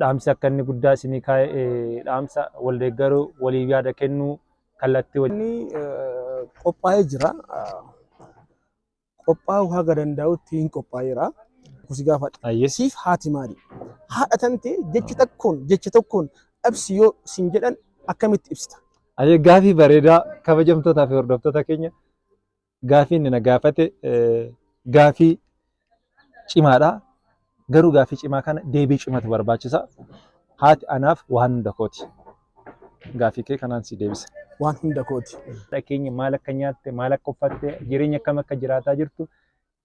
dhaamsi akka inni guddaa isinii kaa'e dhaamsa wal deeggaruu waliif yaada kennuu kallattii wajjin. Inni qophaa'ee jira. Qophaa'uu haga danda'utti hin qophaa'eera. Kusi gaafadha. Ayyee. Siif haati maali? Haadha tantee jecha takkoon jecha tokkoon dhabsi yoo sin jedhan akkamitti ibsita? Ayyee gaafii bareedaa kabajamtootaa fi hordoftoota keenya gaafii inni na gaafate gaafii cimaadha. Garuu gaafii cimaa kana deebii cimatu barbaachisa. Haati anaaf waan hunda kooti. Gaafii kee kanaan si deebisa. Waan hunda kooti. Haadha keenya maal akka nyaatte, maal akka uffatte, jireenya akkam akka jiraataa jirtu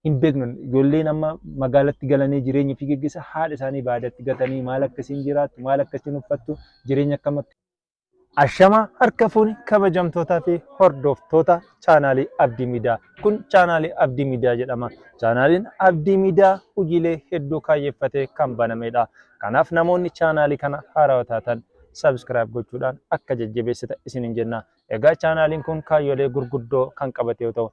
hin beeknu. Ijoolleen amma magaalatti galanii jireenya ofii geggeessa haadha isaanii baadatti gatanii maal akka isiin jiraattu, maal akka isiin uffattu, jireenya akkam akka Ashama harka fuuni kabajamtootaa fi hordoftoota chaanaalii Abdii Miidiyaa. Kun chaanaalii Abdii Miidiyaa jedhama. Chaanaaliin Abdii Miidiyaa hojiilee hedduu kaayyeffatee kan banamedha. Kanaaf namoonni chaanaalii kana haarawaa taatan subscribe gochuudhaan akka jajjabeessitan isiniin jenna. Egaa chaanaaliin kun kaayyolee gurguddoo kan qabate yoo ta'u,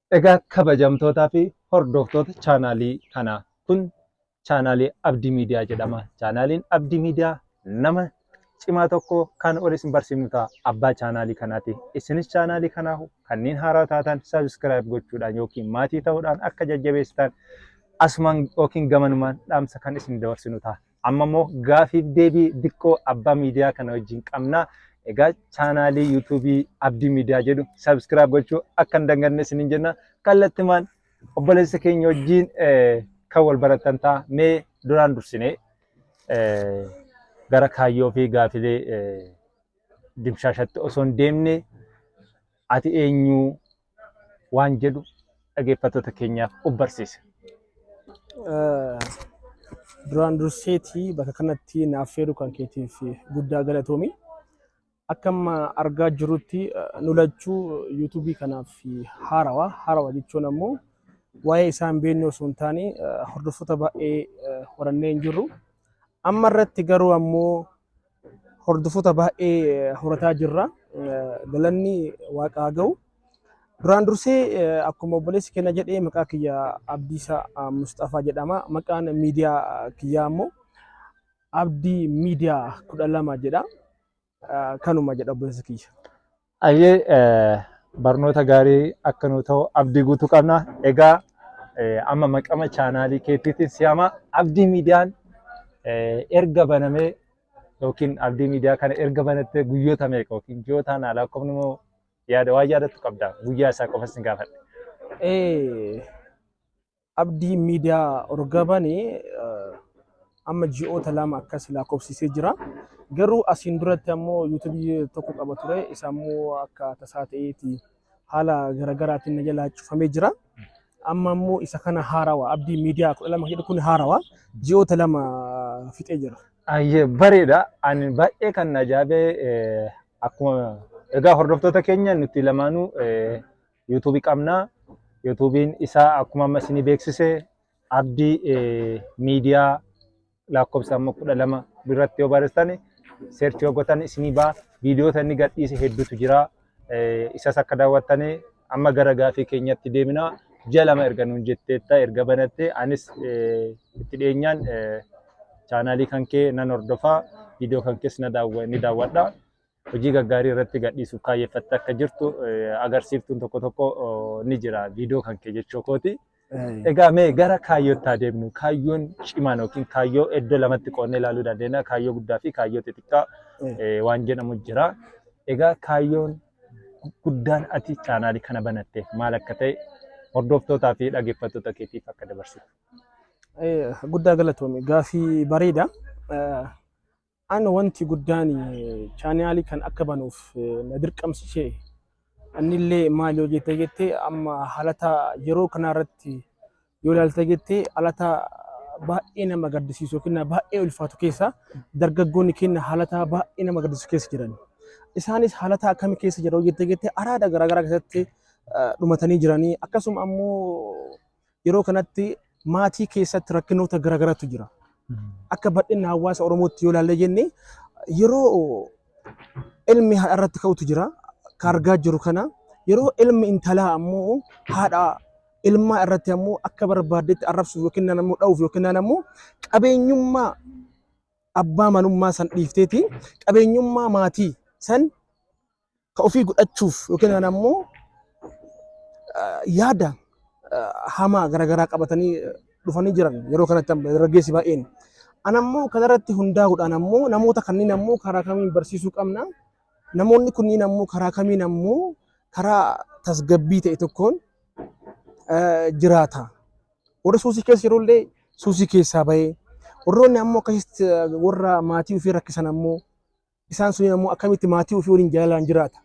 Egaa kabajamtootaa fi hordoftoota chaanaalii kanaa kun chaanaalii Abdii Miidiyaa jedhama. Chaanaaliin Abdii Miidiyaa nama cimaa tokko kan ol isin barsiifnu ta'a. Abbaa chaanaalii kanaati. Isinis chaanaalii kanaa kanneen haaraa taatan sabiskiraayib gochuudhaan yookiin maatii ta'uudhaan akka jajjabeessitan asumaan yookiin gamanumaan dhaamsa kan isin dabarsinu ta'a. Amma immoo gaafiif deebii diqqoo abbaa miidiyaa kana wajjin qabna. Egaa chaanaalii yuutuubii Abdii Miidiyaa jedhu sabiskiraayib gochuu akka hin daganne isiniin jenna. Kallattimaan obboleessa keenya wajjin kan wal baratan ta'a. Mee duraan dursinee gara kaayyoo fi gaafilee dimshaashatti osoo hin deemne ati eenyu waan jedhu dhageeffattoota keenyaaf of barsiise. Duraan durseetii bakka kanatti naaf feeru kan keetiif guddaa galatoomi. Akka amma argaa jirutti nu lachuu yuutuubii kanaaf haarawa. Haarawa jechuun ammoo waa'ee isaa hin beekne osoo hin taane hordoftoota baay'ee horannee hin jirru. Amma irratti garuu ammoo Hordofota baay'ee horataa jirra. Galanni waaqa haa ga'u. Duraan dursee akkuma obboleessi kenna jedhee maqaa kiyya Abdiisaa Musxafaa jedhama. Maqaan miidiyaa kiyyaa immoo Abdii Miidiyaa kudha lama jedha. Kanuma jedha obboleessa kiyya. Ayyee barnoota gaarii akka nu ta'u abdii guutuu qabna. Egaa amma maqama chaanaalii keetiitiin si'ama abdii miidiyaan erga banamee yookiin abdii miidiyaa kana erga banattee guyyoota meeqa yookiin ji'ootaan haala akkamiin immoo yaada waan yaadattu qabda guyyaa isaa qofa sin gaafadha. Abdiin miidiyaa urga bane amma ji'oota lama akkas lakkoofsisee jira. Garuu asiin duratti ammoo yuutubii tokko qaba ture. Isa ammoo akka tasaa ta'eeti haala garaagaraatiin na jalaa cufamee jira. Amma ammoo isa kana haarawa abdii miidiyaa kudha lama jedhu kun haarawa ji'oota lama fixee jira. Ayyee bareeda. Ani baay'ee kan na ajaa'ibee akkuma egaa hordoftoota keenya nuti lamaanuu YouTube qabna. YouTube'n isaa akkuma amma isinii beeksise Abdii miidiyaa lakkoofsa amma kudha lama biratti yoo barreessitan seerchi yoo gootan isinii ba'a. Viidiyoota inni gadhiise hedduutu jira. Isas akka daawwattanii amma gara gaafii keenyatti deemina. Ji'a lama erga nuun jetteetta erga banatte anis itti dhiyeenyaan chaanaalii kan kee nan hordofa. Viidiyoo kan kees ni daawwadha. hojii gaggaarii irratti gadhiisuuf kaayyeffattee akka jirtu eh, agarsiiftuun tokko tokko oh, ni jira viidiyoo kan kee jechuu kooti. Egaa mee gara kaayyootti haa deemnu. Kaayyoon cimaan yookiin kaayyoo iddoo lamatti qoodnee ilaaluu dandeenya. Kaayyoo guddaa fi kaayyoo xixiqqaa eh, waan jedhamu jira. Egaa kaayyoon guddaan ati chaanaalii kana banatteef maal akka ta'e hordoftootaa fi dhaggeeffattoota keetiif akka dabarsitu. Eh, guddaa galatoomi gaafii bareeda Eh, An wanti guddaan chaniali kan akka banuuf na dirqamsise annille maal yoo jette jette amma halata yeroo kanaa irratti yoo ilaalte jette halata baay'ee nama gaddisiisu yookiin na baay'ee ulfaatu keessa dargaggoonni keenya halata baay'ee nama gaddisiisu keessa jiran. Isaanis halata akkamii keessa jiru yoo jette jette araada garaagaraa keessatti eh, dhumatanii jiranii akkasuma ammoo Yeroo kanatti maatii keessatti rakkinoota garaagaraatu jira. Akka bal'inna hawaasa Oromootti yoo ilaalle jenne yeroo ilmi haadha irratti ka'utu jira. Kan argaa jiru kana yeroo ilmi intalaa ammoo haadha ilmaa irratti ammoo akka barbaaddetti arrabsuuf yookiin naan ammoo dha'uuf yookiin naan ammoo qabeenyummaa abbaa manummaa san dhiifteeti qabeenyummaa maatii san ka ofii godhachuuf yookiin kan ammoo eh, yaada eh, hamaa garaagaraa qabatanii eh, dhufanii jiran yeroo kanatti amma dargaggeessi baay'een. An ammoo kanarratti hundaa'uudhaan ammoo namoota kanneen ammoo karaa kamiin barsiisuu qabna. Namoonni kunniin ammoo karaa kamiin ammoo karaa tasgabbii ta'e tokkoon eh, jiraata. Warri suusii keessa jirullee suusii keessaa bahee warroonni ammoo akkasitti eh, warra maatii ofii rakkisan ammoo Isaan suniin ammoo akkamitti maatii ofii waliin jaalalaan jiraata.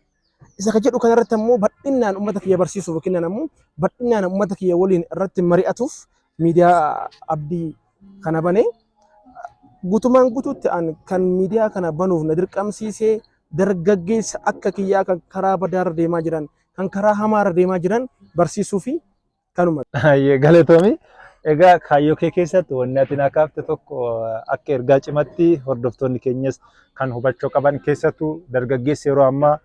Isa ka jedhu kanarratti ammoo bal'inaan uummata kiyya barsiisuuf yookiin ammoo bal'inaan uummata kiyya waliin irratti mari'atuuf miidiyaa abdii kana bane. Guutumaan guutuutti an kan miidiyaa kana banuuf na dirqamsiisee dargaggeessa akka kiyyaa kan karaa badaarra deemaa jiran kan karaa hamaarra deemaa jiran barsiisuu fi Kanuma. Hayyee galatoomi. Egaa kaayyoo kee keessatti wanni ati naa kaafte tokko akka ergaa cimatti hordoftoonni keenyas kan hubachuu qaban keessattuu dargaggeessi yeroo ammaa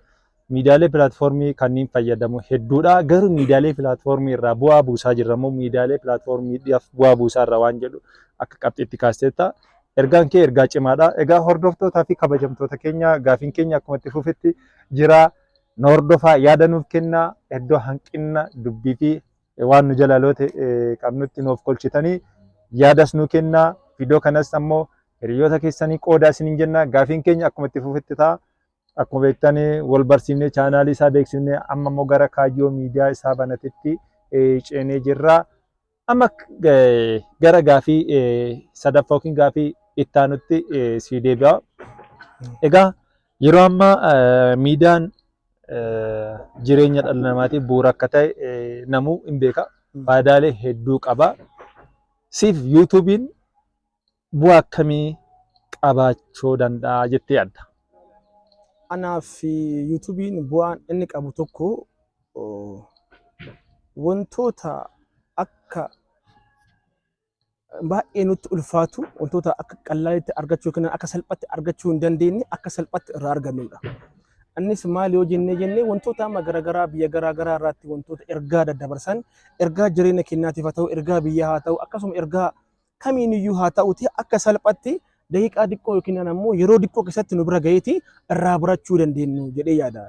miidiyaalee pilaatfoormii kanneen fayyadamu hedduudha. Garuu miidiyaalee pilaatfoormii irraa bu'aa buusaa jirra moo miidiyaalee pilaatfoormiidhaaf bu'aa buusaa irra waan jedhu akka qabxiitti kaasteetta. Ergaan kee ergaa cimaadha. Egaa hordoftootaa fi kabajamtoota keenya gaafiin keenya akkuma itti fufetti jira. Nu hordofaa, yaada nuuf kennaa, iddoo hanqinna dubbii fi waan nu jala loote qabnutti nuuf kolchitanii yaadas nuu kennaa. Viidiyoo kanas ammoo hiriyoota keessanii qoodaa isiniin jenna. Gaafiin keenya akkuma itti fufetti ta'a. Akkuma beektan wal barsiifnee chaanaalii isaa beeksifnee amma immoo gara kaayyoo miidiyaa isaa banatetti ceenee jirra. Amma gara gaafii sadaffaa yookiin gaafii itti aanutti sii deebi'a. Egaa yeroo ammaa miidiyaan jireenya dhala namaatiif bu'uura akka ta'e namuu hin beeka. Faayidaalee hedduu qaba. Siif yuutuubiin bu'aa akkamii qabaachuu danda'a jettee yaadda? Anaaf yuutuubiin bu'aan inni qabu tokko wantoota akka baay'ee nutti ulfaatu wantoota akka qallaalitti argachuu yookiin akka salphatti argachuu hin dandeenye akka salphatti irraa argannudha. Innis maal yoo jennee jennee wantoota amma garaagaraa biyya garaagaraa irratti wantoota ergaa daddabarsan ergaa jireenya keenyaatiif haa ta'u ergaa biyyaa haa ta'u akkasuma ergaa kamiin iyyuu haa ta'uti akka salphatti daqiiqaa diqqoo yookiin ammoo yeroo diqqoo keessatti nu bira ga'eeti irraa barachuu dandeenyu jedhee yaada.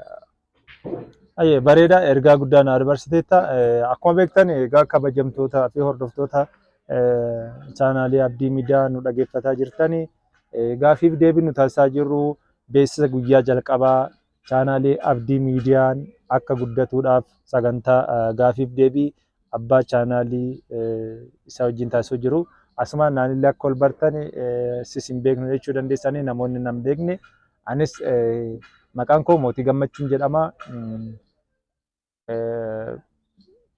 Ayyee bareeda ergaa guddaa na dabarsiteetta. Akkuma beektan egaa kabajamtootaa fi hordoftoota chaanaalii Abdii Miidiyaa nu dhaggeeffataa jirtani. Gaafiif deebii nu taasisaa jirru beeksisa guyyaa jalqabaa Chaanaalii Abdii Miidiyaan akka guddatuudhaaf sagantaa gaafiif deebii abbaa chaanaalii isa wajjin taasisuu jiru. Asumaan naanillee akka ol bartan sis hin beeknu jechuu dandeessanii namoonni nan beekne. Anis maqaan koo Mootii Gammachuun jedhama.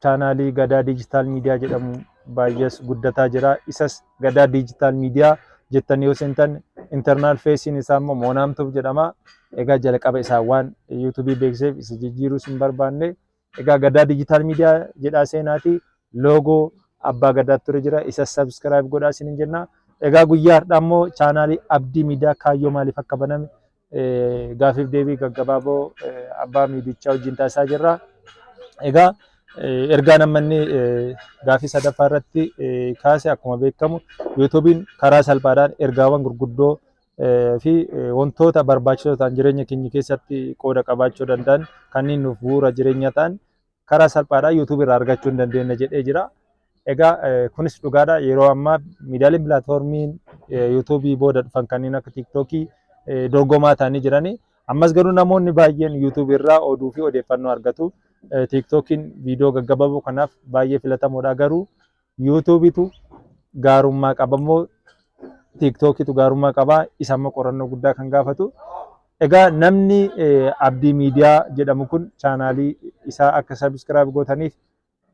chaanaalii Gadaa Diijitaal Miidiyaa jedhamu baay'ees guddataa jira. Isas Gadaa Diijitaal Miidiyaa jettanii yoo seentan internal feesiin isaa immoo Moonaamtuuf jedhama. Egaa jalqaba isaa waan yuutuubii beeksiseef isa jijjiiruus hin barbaanne. Egaa Gadaa Diijitaal Miidiyaa jedhaa seenaati loogoo abbaa gadaa ture jira. Isas sabskiraayib godhaa isin jenna. Egaa guyyaa har'aa immoo chaanaalii Abdii Miidiyaa kaayyoo maaliif akka baname gaafiif deebii gaggabaaboo abbaa miidichaa wajjin taasisaa jirra. Egaa ergaan amma inni gaafii sadaffaa irratti kaase akkuma beekamu yuutuubiin karaa salphaadhaan ergaawwan gurguddoo fi wantoota barbaachisoo ta'an jireenya keenya keessatti qooda qabaachuu danda'an kanneen nuuf bu'uura jireenya ta'an karaa salphaadhaan YouTube irraa argachuu hin dandeenye jedhee jira. Egaa eh, kunis dhugaadha yeroo ammaa miidiyaaleen pilaatfoormiin eh, YouTube booda dhufan kanneen akka TikTok eh, dorgomaa ta'anii jirani. Ammas garuu namoonni baay'een YouTube irraa oduu fi odeeffannoo argatu. Eh, TikTokiin viidiyoo gaggabaaboo kanaaf baay'ee filatamoodha garuu Yuutuubitu gaarummaa qabammoo tiiktookitu gaarummaa qabaa isa amma qorannoo guddaa kan gaafatu. Egaa namni Abdii Miidiyaa jedhamu kun chaanaalii isaa akka sabiskiraayib gootaniif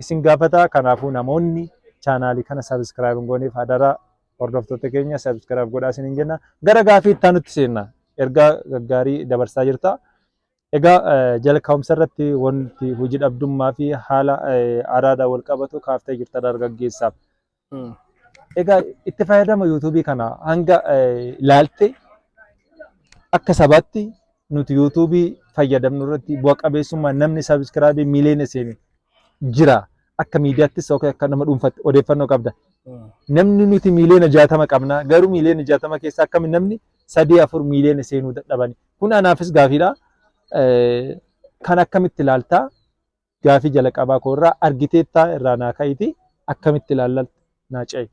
isin gaafata. Kanaafuu namoonni chaanaalii kana sabiskiraayib hin gooneef hadaraa hordoftoota keenya sabiskiraayib godhaa isiniin jenna. Gara gaafii itti aanutti seenna. Ergaa gaggaarii dabarsaa jirta. Egaa jalqabumsa irratti wanti hojii dhabdummaa fi haala araadaan wal qabatu kaaftee jirta dargaggeessaaf. Egaa itti fayyadama yuutuubii kana hanga ilaalte akka sabaatti nuti yuutuubii fayyadamnu irratti bu'a qabeessummaa namni sabiskiraabii miiliyoona seene jira. Akka miidiyaattis yookiin akka nama dhuunfaatti odeeffannoo qabda. Namni nuti miiliyoona jaatama qabna garuu miiliyoona jaatama keessa akkami namni sadii afur miiliyoona seenuu dadhabani. Kun anaafis gaafiidha. Kan akkamitti ilaalta? Gaafii jalaqabaa koo irraa argiteettaa irraa naa ka'iti akkamitti ilaalla naa ce'i.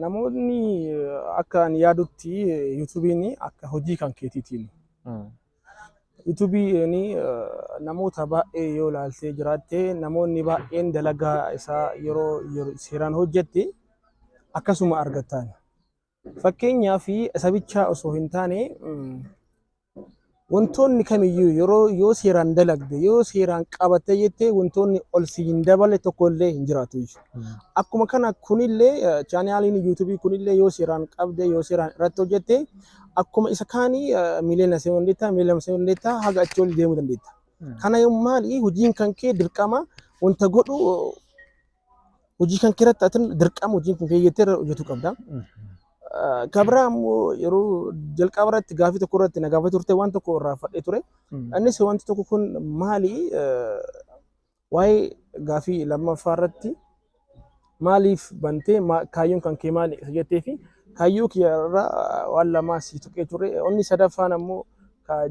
Namoonni akka ani yaadutti yuutuubiin akka hojii kan keetiitiin. Yuutuubiin namoota baay'ee yoo ilaaltee jiraatte namoonni baay'een dalagaa isaa yeroo seeraan hojjette akkasuma argattaan. Fakkeenyaaf isa bichaa osoo hin taane wantoonni kamiyyuu yeroo yoo seeraan dalagde yoo seeraan qabattee jettee wantoonni ol si hin daballe tokko illee hin jiraatu jechuudha. Akkuma kana kunillee chaanaaliin yuutuubii kunillee yoo seeraan qabde yoo seeraan irratti hojjette akkuma isa kaanii miliyoona se'uu dandeetta miliyoona se'uu dandeetta haga achi ol deemuu dandeetta. Kana yoo maali hojiin kan kee dirqama wanta godhu hojii kan keeratti atin dirqama hojiin kan kee jettee irra hojjetu qabda. Ah, Ka biraa immoo yeroo jalqaba irratti gaafii tokko irratti na gaafatee turte waan tokko irraa fadhee ture. Innis wanti tokko kun maali eh, waa'ee gaafii lammaffaa irratti maaliif bantee maa- kaayyoon kan kee maali isa jettee fi kaayyoo kiyya irraa waan lamaa si tuqee ture. Inni sadaffaan ammoo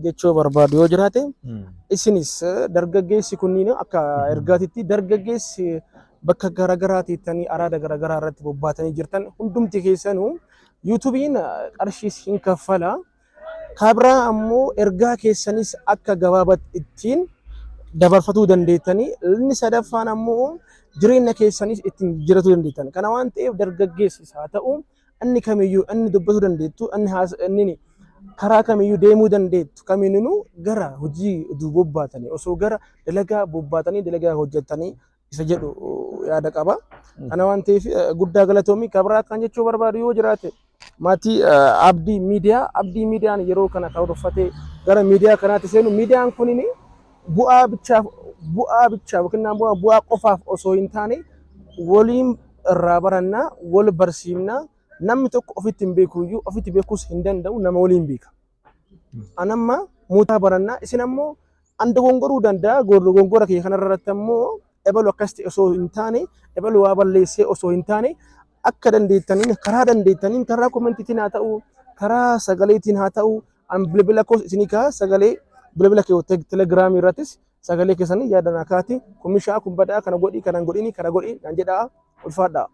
jechuu barbaadu yoo jiraate isinis dargaggeessi kunniin akka ergaatitti dargaggeessi bakka garaagaraa teettanii araada garaagaraa irratti bobbaatanii jirtan hundumti keessanuu yuutuubiin qarshiis hin kaffala kabraa ammoo ergaa keessanis akka gabaabat ittiin dabarfatuu dandeettanii inni sadaffaan ammoo jireenya keessanis ittiin jiratuu dandeettan kana waan ta'eef dargaggeessis haa ta'u Anni kamiyyuu, anni dubbatuu dandeettu, anni haasa, anni karaa kamiyyuu deemuu dandeettu kamiinuu gara hojii oduu bobbaatanii osoo gara dalagaa bobbaatanii dalagaa hojjetanii isa jedhu yaada qaba. Kana waan ta'eef guddaa galatoomii kabraa kan jechuu barbaadu yoo jiraate maatii abdii miidiyaa abdii miidiyaan yeroo kana karoorfatee gara miidiyaa kanaatti seenu miidiyaan kunini bu'aa bichaaf bu'aa bichaaf yookiin naan bu'aa bu'aa qofaaf osoo hin taane waliin irraa baranna wal barsiifna namni tokko ofitti hin beeku iyyuu ofitti beekuus hin danda'u nama waliin beeka. An amma muutaa baranna isin ammoo an dogongoruu danda'a dogongora kiyya kanarratti ammoo ebalu akkas ta'e osoo hin taane ebalu waa balleessee osoo hin taane akka dandeettaniin karaa dandeettaniin karaa komentiitiin haa ta'u karaa sagaleetiin haa ta'u an bilbila koos isinii kaa sagalee bilbila kee teg- telegiraamii irrattis sagalee keessanii yaadan akaati kun mishaa kun badaa kana godhii kana hin godhiini kana godhii naan jedhaa ulfaadhaa.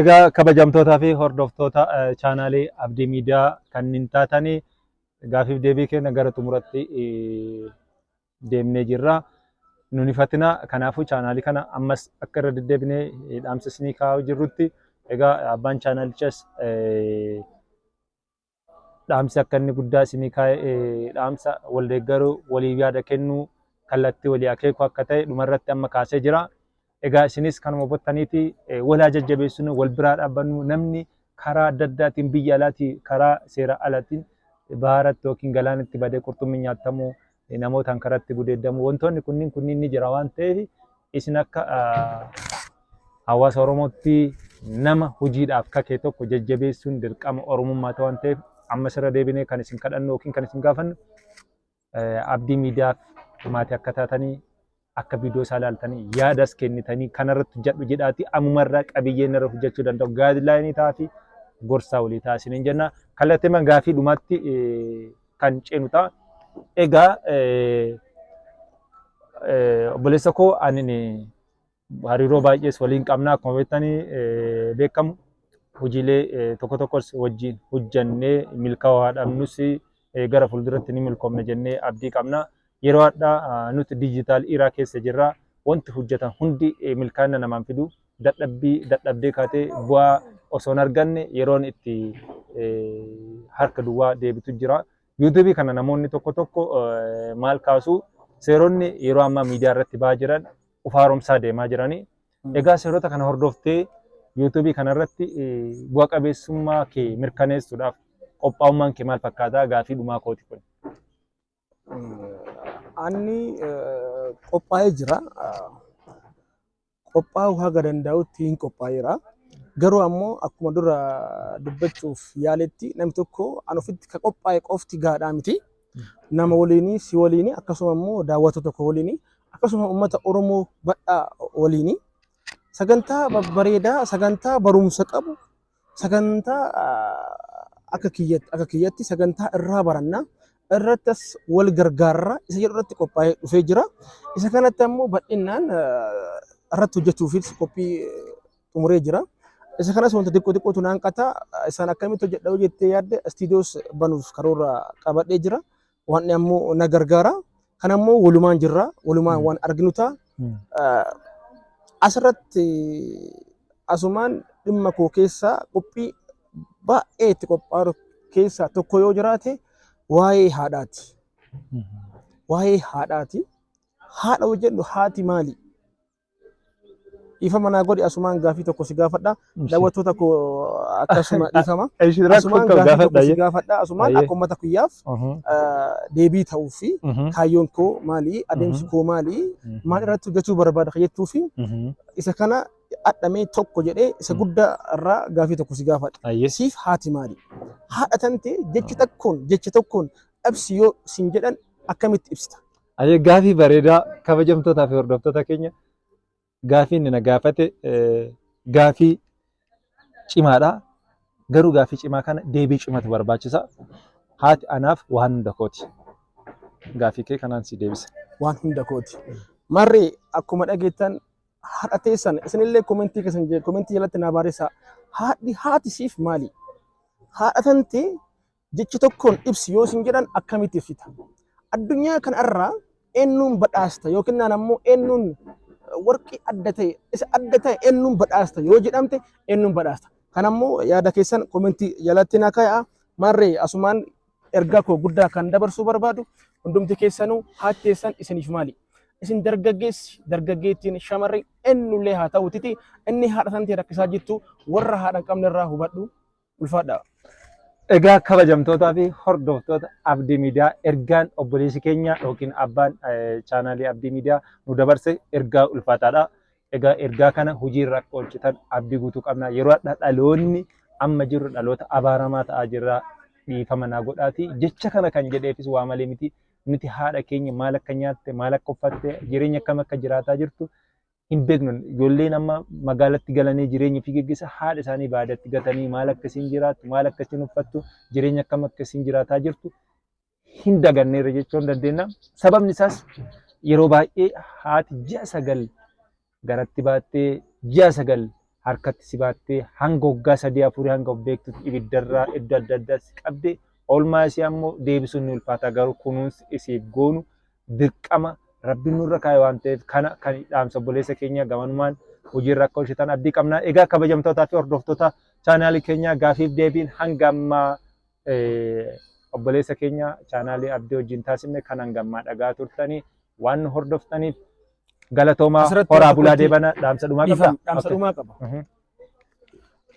Egaa kabajamtootaa fi hordoftoota eh, chaanaalii Abdii Miidiyaa kanneen taatanii gaafiif deebii keenya gara xumuratti eh, deemnee jirra. Nun hifatina kanaafuu chaanaalii kana ammas akka irra deddeebinee dhaamsa isinii kaa'aa jirrutti egaa abbaan chaanaalichas dhaamsi akka inni guddaa isinii kaa'e dhaamsa wal deeggaruu waliif yaada kennuu kallattii walii akeekuu akka ta'e dhumarratti amma kaasee jira. Egaa isinis kanuma hubattaniiti wal haa jajjabeessinu, wal biraa dhaabbannu. Namni karaa adda addaatiin biyya alaatii karaa seera alaatiin baharatti yookiin galaanatti badee qurxummiin nyaattamu, namootaan karatti gudeeddamu wantoonni kunniin kunniin ni jira waan ta'eef isin akka hawaasa Oromootti nama hojiidhaaf kakee tokko jajjabeessuun dirqama Oromummaa ta'e waan ta'eef ammas irra deebinee kan isin kadhannu yookiin kan isin gaafannu Abdii miidiyaaf maatii akka taatanii akka viidiyoo isaa ilaaltanii yaadas kennitanii kanarratti hojjedhu jedhaatii ammumarraa qabiyyee irra hojjechuu danda'u gaadilaayinii taa'afi gorsaa walii ta'a isiniin jenna. Kallatteema gaafii dhumaatti kan ceenu ta'a. Egaa obboleessa koo ani hariiroo baay'ees waliin qabna akkuma beektanii eh, beekamu hojiilee eh, tokko tokkos wajjin hojjannee milkaa'aa dhabnus eh, gara fuulduratti ni milkoomna jennee abdii qabna. Yeroo addaa ah, nuti diijitaal iraa keessa jirra. Wanti hojjetan hundi eh, milkaa'ina namaan fidu dadhabbii dadhabdee kaatee bu'aa osoo hin arganne yeroon itti eh, harka duwwaa deebitu jira. Yuutuubii kana namoonni tokko tokko eh, maal kaasu seeronni yeroo ammaa miidiyaa irratti ba'aa jiran of haaromsaa deemaa jirani. Egaa seerota kana hordoftee yuutuubii kanarratti bu'a qabeessummaa kee mirkaneessuudhaaf qophaa'ummaan kee maal fakkaataa gaafii dhumaa kooti kun. Anni qophaa'ee jira. Qophaa'uu haga danda'utti hin qophaa'eera. Garuu ammoo akkuma dura dubbachuuf yaaletti namni tokko an ofitti ka qophaa'e qofti gaadhaa miti. nama waliinii si waliinii akkasuma immoo daawwatu tokko waliinii akkasuma uummata Oromoo badhaa waliinii sagantaa babbareedaa sagantaa barumsa qabu sagantaa akka kiyyatti akka kiyyatti sagantaa irraa barannaa irratti as wal gargaarraa isa jedhu irratti qophaa'ee dhufee jira. Isa kanatti ammoo bal'inaan irratti hojjechuufis qophii xumuree jira. Isa kanas wanta xiqqoo xiqqootu naan qata. Isaan akkamitti hojjedha yoo jettee yaadde istiidiyoos banuuf karoora qabadhee jira. Waan ammoo na gargaara. Kan ammoo walumaan jirra. Walumaan waan arginu ta'a. Asirratti asumaan dhimma koo keessaa qophii baay'ee itti qophaa'u keessaa tokko yoo jiraate waa'ee haadhaati. Waa'ee haadhaati. Haadha hojjedhu haati maali? Dhiifama naa godhi asumaan gaafii tokko si gaafadha. Ishii. Daawwattoota koo akkasuma dhiifama. Ishi rakkoo Asumaan qabu gaafii tokko gaafadha. si gaafadha. Asumaan Ayyee. akka uummata kiyyaaf Mhm, ah, deebii ta'uu fi mhm, kaayyoon koo maali? Adeemsi Mhm. koo maali? mhm, Maal irratti hojjechuu barbaada kan jettuu fi mhm. isa kana adhamee tokko jedhee isa Mhm. guddaa irraa gaafii tokko si gaafadha. Ayyee. Siif haati maali? Haadha tante jecha tokkoon jecha tokkoon ibsi yoo siin jedhan akkamitti ibsita? Ayyee gaafii bareedaa kabajamtootaa fi hordoftoota keenya gaafii inni na gaafate eh, gaafii cimaadha. Garuu gaafii cimaa kana deebii cimatu barbaachisa. Haati anaaf waan hunda kooti. Gaafii kee kanaan si deebisa. waan hunda kooti. Marri akkuma dhageettan haadha teessan isinillee komentii keessan jee komentii jalatti naa barreessaa. Haadhi haati siif maali? Haadha tante Jecha tokkoon ibsi yoo sin jedhan akkamitti ibsita? Addunyaa kana irraa eennuun badhaasta yookiin naan ammoo eennuun warqii adda ta'e isa adda ta'e eennuun badhaasta yoo jedhamte eennuun badhaasta. Kan ammoo yaada keessan komentii jalatti na kaa'a. Maarree asumaan ergaa koo guddaa kan dabarsuu barbaadu hundumti keessanuu haati teessan isiniif maali? Isin dargaggeessi dargaggeettiin shamarri eenyullee haa ta'utiti inni haadha tantee rakkisaa jirtu warra haadha hin qabne irraa hubadhu. Ulfaadhaa. Egaa kabajamtootaa fi hordoftoota Abdii Miidiyaa ergaan obboleessi keenya yookiin abbaan chaanaalii Abdii Miidiyaa nu dabarse ergaa ulfaataadha. Egaa ergaa kana hojiirra akka oolchitan abdii guutuu qabna. Yeroo hadhaa dhaloonni amma jirru dhaloota abaaramaa ta'aa jirra. Dhiifama naa godhaati. Jecha kana kan jedheefis waa malee miti. Nuti haadha keenya maal akka nyaatte, maal akka uffatte, jireenya akkam akka jiraataa jirtu hin beeknu ijoolleen amma magaalatti galanii jireenya ofii geggeessa haadha isaanii baadatti gatanii maal akka isin jiraattu maal akka isin uffattu jireenya akkam akka isin jiraataa jirtu hin daganneerra jechuun dandeenya. Sababni isaas yeroo baay'ee haati ji'a sagal garatti baattee ji'a sagal harkatti si baattee hanga waggaa sadii afurii hanga of beektutti ibiddarraa iddoo adda addaa si qabde oolmaa isii ammoo deebisuun ni ulfaata garuu kunuunsi isiif goonu dirqama rabbiin nurra kaa'e waan ta'eef kana kan dhaamsa obboleessa keenya gamanumaan hojiirra akka oolchitan abdii qabna. Egaa kabajamtootaa fi hordoftoota chaanaalii keenyaa gaafiif deebiin hanga ammaa obboleessa keenya chaanaalii abdii wajjin taasifne kan hanga ammaa dhagaa turtanii waan nu hordoftaniif Galatoomaa Asirratti horaa bulaa tokkotti- deebana dhaamsa dhumaa qabda. Dhiifama, dhaamsa Okay. dhumaa qaba. Mhm.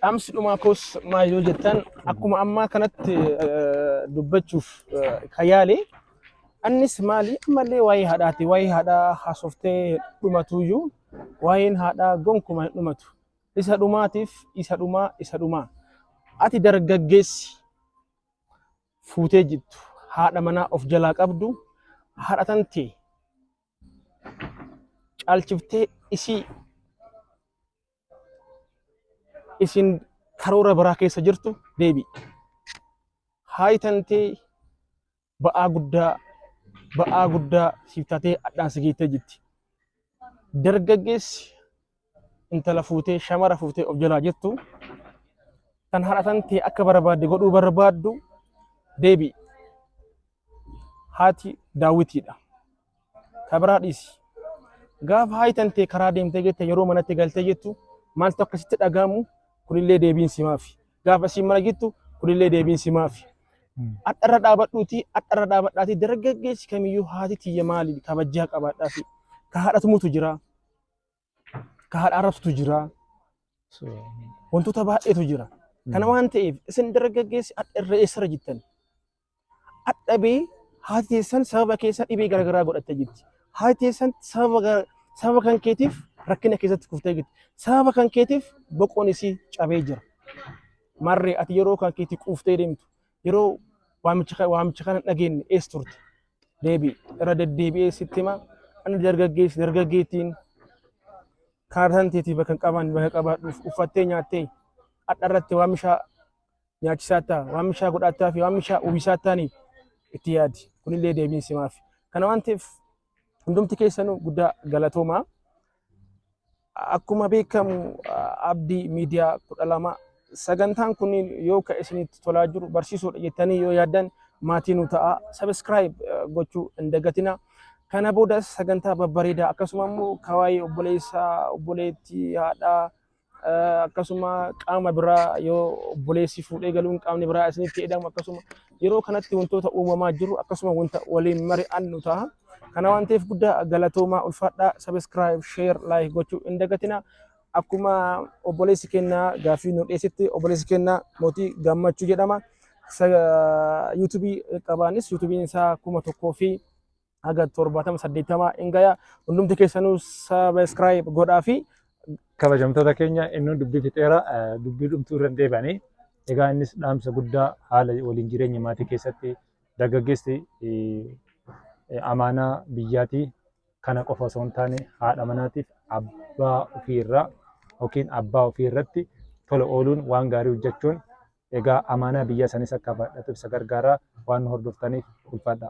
Dhaamsi dhumaa koos maal yoo jettan akkuma ammaa kanatti eh, dubbachuuf eh, kan yaale annis maali ammallee waa'ee haadhaati waa'ee haadhaa haasoftee dhumatuyyuu waa'een haadhaa gonkuma hin dhumatu isa dhumaatiif isa dhumaa isa dhumaa ati dargaggeessi fuutee jirtu haadha manaa of jalaa qabdu haadha tantee caalchiftee isii isin karoora biraa keessa jirtu deebi'i. Haayi tantee ba'aa guddaa ba'aa guddaa siif taatee hadhaan si geettee jirti. Dargaggeessi intala fuutee shamara fuutee of jalaa jirtu tan haadhatan tee akka barbaadde godhuu barbaaddu deebi'i. Haati daawwitiidha. Ka biraa dhiisi. Gaafa haayitan tee karaa deemtee jette yeroo manatti galtee jettu maaltu akkasitti dhaga'amu kunillee deebiin si maafi. Gaafa isiin mana jettu kunillee deebiin si maafi. Adharra dhaabadhuuti adharra dhaabadhaati dargaggeessi kamiyyuu haati tiyya maali kabajjaa qabaadhaafi. Ka haadhatumutu jira. ka haadha arrabsutu jira. Wantoota baay'eetu jira. Kana waan ta'eef isin dargaggeessi hadha irra eessarra jirtan. Hadha bee haati teessan sababa keessa dhibee garaagaraa godhattee jirti. Haati teessan sababa gara- sababa kan keetiif rakkina keessatti kuftee jirti. Sababa kan keetiif boqoon isii cabee jira. Marree ati yeroo kan keetii quuftee deemtu Yeroo waamicha ka- waamicha kana hin dhageenye eessa turte? Deebii irra deddeebi'ee sitti hima. Ani dargaggeessi dargaggeettiin kaartaan teetii bakka hin qaban bakka qabaadhuuf uffattee nyaattee hadha irratti waamicha nyaachisaa ta'a waamicha godhaattaa fi waamicha uwwisaa ta'anii itti yaadi. Kunillee deebiin simaaf. Kana waan ta'eef Hundumti keessanuu guddaa galatoomaa. Akkuma beekamu abdii miidiyaa kudha lama sagantaan kunniin yoo ka isinitti tolaa jiru barsiisuudha jettanii yoo yaaddan maatii nu ta'a sabiskiraayib gochuu hin dagatina. Kana boodas sagantaa babbareedaa akkasuma immoo kawaayee obboleessaa obboleettii haadhaa akkasuma qaama biraa yoo obboleessi fuudhee galuun qaamni biraa isinitti edamu akkasuma yeroo kanatti wantoota uumamaa jiru akkasuma wanta waliin mari'annu ta'a. Kana waan ta'eef guddaa galatoomaa ulfaadhaa sabiskiraayib sheer laayik gochuu hin dagatina. Akkuma obboleessi kennaa gaaffii nu dhiyeessitti obboleessi kennaa mootii gammachuu jedhama. Yuutuubii qabaanis yuutuubiin isaa kuma tokkoo fi haga torbaatama saddeettama hin gaya hundumti keessanuu sabiskiraayib godhaa fi kabajamtoota keenya inni dubbii fixeera eh, dubbii dhumtuu irra hin deebanii egaa innis dhaamsa guddaa haala waliin jireenya maatii keessatti dargaggeessi eh, eh, amaanaa biyyaatii kana qofa osoo hin taane haadha manaatiif abbaa ofii irraa yookiin abbaa ofii irratti tola ooluun waan gaarii hojjechuun egaa amaanaa biyyaa sanis akka baadhatuuf isa gargaaraa waan nu hordoftaniif ulfaadha.